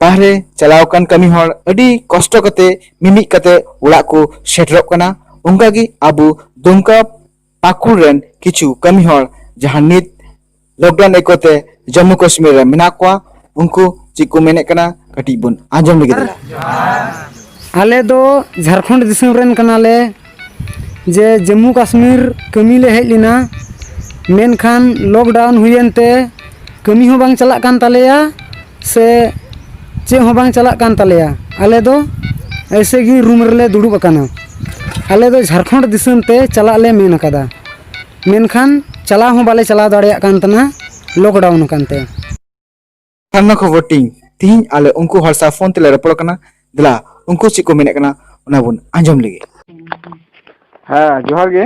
ᱵᱟᱦᱨᱮ ᱪᱟᱞᱟᱣ ᱟᱠᱟᱱ ᱠᱟᱹᱢᱤ ᱦᱚᱲ ᱟᱹᱰᱤ ᱠᱚᱥᱴᱚ ᱠᱟᱛᱮ ᱢᱤᱢᱤᱫ ᱠᱟᱛᱮ ᱚᱲᱟᱜ ᱠᱚ ᱥᱮᱴᱮᱨᱚᱜ ᱠᱟᱱᱟ ᱚᱱᱠᱟᱜᱮ ᱟᱵᱚ ᱫᱩᱢᱠᱟ ᱯᱟᱠᱩᱲ ᱨᱮᱱ ᱠᱤᱪᱷᱩ ᱠᱟᱹᱢᱤ ᱦᱚᱲ ᱡᱟᱦᱟᱸ ᱱᱤᱛ ᱞᱚᱠᱰᱟᱣᱩᱱ ᱮᱠᱚᱛᱮ ᱡᱚᱢᱢᱩ ᱠᱟᱥᱢᱤᱨ ᱨᱮ ᱢᱮᱱᱟᱜ ᱠᱚᱣᱟ ᱩᱱᱠᱩ ᱪᱮᱫ ᱠᱚ ᱢᱮᱱᱮᱫ ᱠᱟᱱᱟ ᱠᱟᱹᱴᱤᱡ ᱵᱚᱱ ᱟᱸᱡᱚᱢ ᱞᱟᱹᱜᱤᱫ ᱟᱞᱮ ᱫᱚ ᱡᱷᱟᱲᱠᱷᱚᱸᱰ ᱫᱤᱥᱚᱢ ᱨᱮᱱ ᱠᱟᱱᱟᱞᱮ ᱡᱮ ᱡᱚᱢᱢᱩ ᱠᱟᱥᱢᱤᱨ ᱠᱟᱹᱢᱤ ᱞᱮ ᱦᱮᱡ ᱞᱮᱱᱟ ᱢᱮᱱᱠᱷᱟᱱ ᱞᱚᱠᱰᱟᱣᱩᱱ ᱦᱩᱭᱮᱱ ᱛᱮ ᱠᱟᱹᱢᱤ ᱦᱚᱸ ᱵᱟᱝ ᱪᱟᱞᱟᱜ ᱠᱟᱱ ᱛᱟᱞᱮᱭᱟ ᱥᱮ ᱪᱮᱫ ᱦᱚᱸ ᱵᱟᱝ ᱪᱟᱞᱟᱜ ᱠᱟᱱ ᱛᱟᱞᱮᱭᱟ ᱟᱞᱮ ᱫᱚ ᱮᱭᱥᱮ ᱜᱮ ᱨᱩᱢ ᱨᱮᱞᱮ ᱫᱩᱲᱩᱵ ᱟᱠᱟᱱᱟ ᱟᱞᱮ ᱫᱚ ᱡᱷᱟᱲᱠᱷᱚᱸᱰ ᱫᱤᱥᱚᱢ ᱛᱮ ᱪᱟᱞᱟᱜ ᱞᱮ ᱢᱮᱱ ᱟᱠᱟᱫᱟ ᱢᱮᱱᱠᱷᱟᱱ ᱪᱟᱞᱟᱣ ᱦᱚᱸ ᱵᱟᱞᱮ ᱪᱟᱞᱟᱣ ᱫᱟᱲᱮᱭᱟᱜ ᱠᱟᱱ ᱛᱟᱦᱮᱱᱟ ᱞᱚᱠᱰᱟᱣᱩᱱ ᱟᱠᱟᱱ ᱛᱮ ᱟᱭᱢᱟ ᱠᱷᱚᱵᱚᱨ ᱴᱤᱝ ᱛᱤᱦᱤᱧ ᱟᱞᱮ ᱩᱱᱠᱩ ᱦᱚᱲ ᱥᱟᱶ ᱯᱷᱳᱱ ᱛᱮᱞᱮ ᱨᱚᱯᱚᱲ ᱠᱟᱱᱟ ᱫᱮᱞᱟ ᱩᱱᱠᱩ ᱪᱮᱫ ᱠᱚ ᱢᱮᱱᱮᱫ ᱠᱟᱱᱟ ᱚᱱᱟ ᱵᱚᱱ ᱟᱸᱡᱚᱢ ᱞᱮᱜᱮ ᱦᱮᱸ ᱡᱚᱦᱟᱨ ᱜᱮ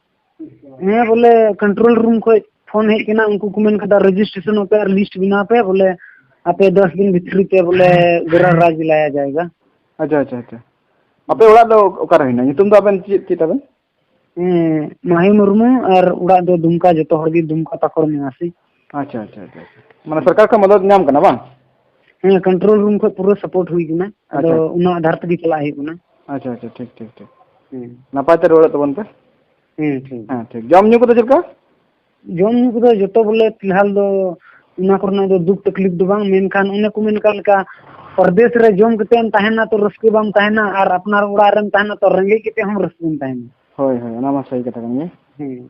ᱦᱮᱸ ᱵᱚᱞᱮ ᱠᱚᱱᱴᱨᱳᱞ ᱨᱩᱢ ᱠᱷᱚᱡ ᱯᱷᱳᱱ ᱦᱮᱡ ᱠᱟᱱᱟ ᱩᱱᱠᱩ ᱠᱚ ᱢᱮᱱ ᱠᱟᱫᱟ ᱨᱮᱡᱤᱥᱴᱨᱮᱥᱚᱱᱚᱜ ᱯᱮ ᱟᱨ ᱞᱤᱥᱴ ᱵᱮᱱᱟᱣ ᱯᱮ ᱵᱚᱞᱮ ᱟᱯᱮ ᱫᱚᱥ ᱫᱤᱱ ᱵᱷᱤᱛᱨᱤ ᱛᱮ ᱵᱚᱞᱮ ᱜᱚᱨᱟ ᱨᱟᱡᱽ ᱞᱟᱭᱟ ᱡᱟᱭᱜᱟ ᱟᱪᱪᱷᱟ ᱟᱪᱪᱷᱟ ᱟᱪᱪᱷᱟ ᱟᱯᱮ ᱚᱲᱟᱜ ᱫᱚ ᱚᱠᱟᱨᱮ ᱦᱮᱱᱟᱜᱼᱟ ᱧᱩᱛᱩᱢ ᱫᱚ ᱟᱵᱮᱱ ᱪᱮᱫ ᱪᱮᱫ ᱛᱟᱵᱮᱱ ᱦᱮᱸ ᱢᱟᱦᱤ ᱢᱩᱨᱢᱩ ᱟᱨ ᱚᱲᱟᱜ ᱫᱚ ᱫᱩᱢᱠᱟ ᱡᱚᱛᱚ ᱦᱚᱲ ᱜᱮ ᱫᱩᱢᱠᱟ ᱯᱟᱠᱩᱲ ᱱᱤᱵᱟᱥᱤ ᱟᱪᱪᱷᱟ ᱟᱪᱪᱷᱟ ᱟᱪᱪᱷᱟ ᱢᱟᱱᱮ ᱥᱚᱨᱠᱟᱨ ᱠᱷᱚᱱ ᱢᱚᱫᱚᱫ ᱧᱟᱢ ᱠᱟᱱᱟ ᱵᱟᱝ ᱦᱮᱸ ᱠᱚᱱᱴᱨᱳᱞ ᱨᱩᱢ ᱠᱷᱚᱱ ᱯᱩᱨᱟᱹ ᱥᱟᱯᱳᱨᱴ ᱦᱩᱭ ᱠᱟᱱᱟ ᱟᱫᱚ ᱚᱱᱟ ᱟᱫᱷᱟᱨ ᱛᱮᱜᱮ ᱪᱟᱞᱟᱜ ᱦᱩᱭᱩᱜ ᱠᱟᱱᱟ ᱟᱪᱪᱷᱟ ᱟᱪᱪᱷᱟ ᱴᱷᱤᱠ ᱴᱷᱤᱠ ᱴᱷᱤᱠ ᱱᱟᱯᱟᱭ ᱛᱮ ᱨᱩᱣᱟᱹᱲᱚᱜ ᱛᱟᱵᱚᱱ ᱯᱮ ᱦᱮᱸ ᱴᱷᱤᱠ ᱦᱮᱸ ᱴᱷᱤᱠ ᱡᱚᱢ ᱧᱩ ᱠᱚᱫᱚ ᱪᱮᱫ ᱞᱮᱠᱟ ᱡᱚᱢ ᱧᱩ ᱠᱚᱫᱚ ᱡᱚᱛᱚ ᱵᱚᱞᱮ ᱯᱷᱤᱞᱦᱟᱞ ᱫᱚ ᱚᱱᱟ ᱠᱚᱨᱮᱱᱟᱜ ᱫᱚ ᱫᱩᱠ ᱛᱟᱠᱞᱤᱯ ᱫᱚ ᱵᱟᱝ ᱢᱮᱱᱠᱷᱟᱱ ᱚᱱᱮ ᱠᱚ ᱢᱮᱱ ᱠᱟᱜ ᱞᱮᱠᱟ ᱯᱨᱚᱫᱮᱥ ᱨᱮ ᱡᱚᱢ ᱠᱟᱛᱮ ᱮᱢ ᱛᱟᱦᱮᱱᱟ ᱛᱚ ᱨᱟᱹᱥᱠᱟᱹ ᱵᱟᱢ ᱛᱟᱦᱮᱱᱟ ᱟᱨ ᱟᱯᱱᱟᱨ ᱚᱲᱟᱜ ᱨᱮᱢ ᱛᱟᱦᱮᱱᱟ ᱛᱚ ᱨᱮᱸᱜᱮᱡ ᱠᱟᱛᱮ ᱦᱚᱸ ᱨᱟᱹᱥᱠᱟᱹᱢ ᱛᱟᱦᱮᱱᱟ ᱦᱳᱭ ᱦᱳᱭ ᱚᱱᱟ ᱢᱟ ᱥᱟᱹᱨᱤ ᱠᱟᱛᱷᱟ ᱠᱟᱱ ᱜᱮ ᱦᱮᱸ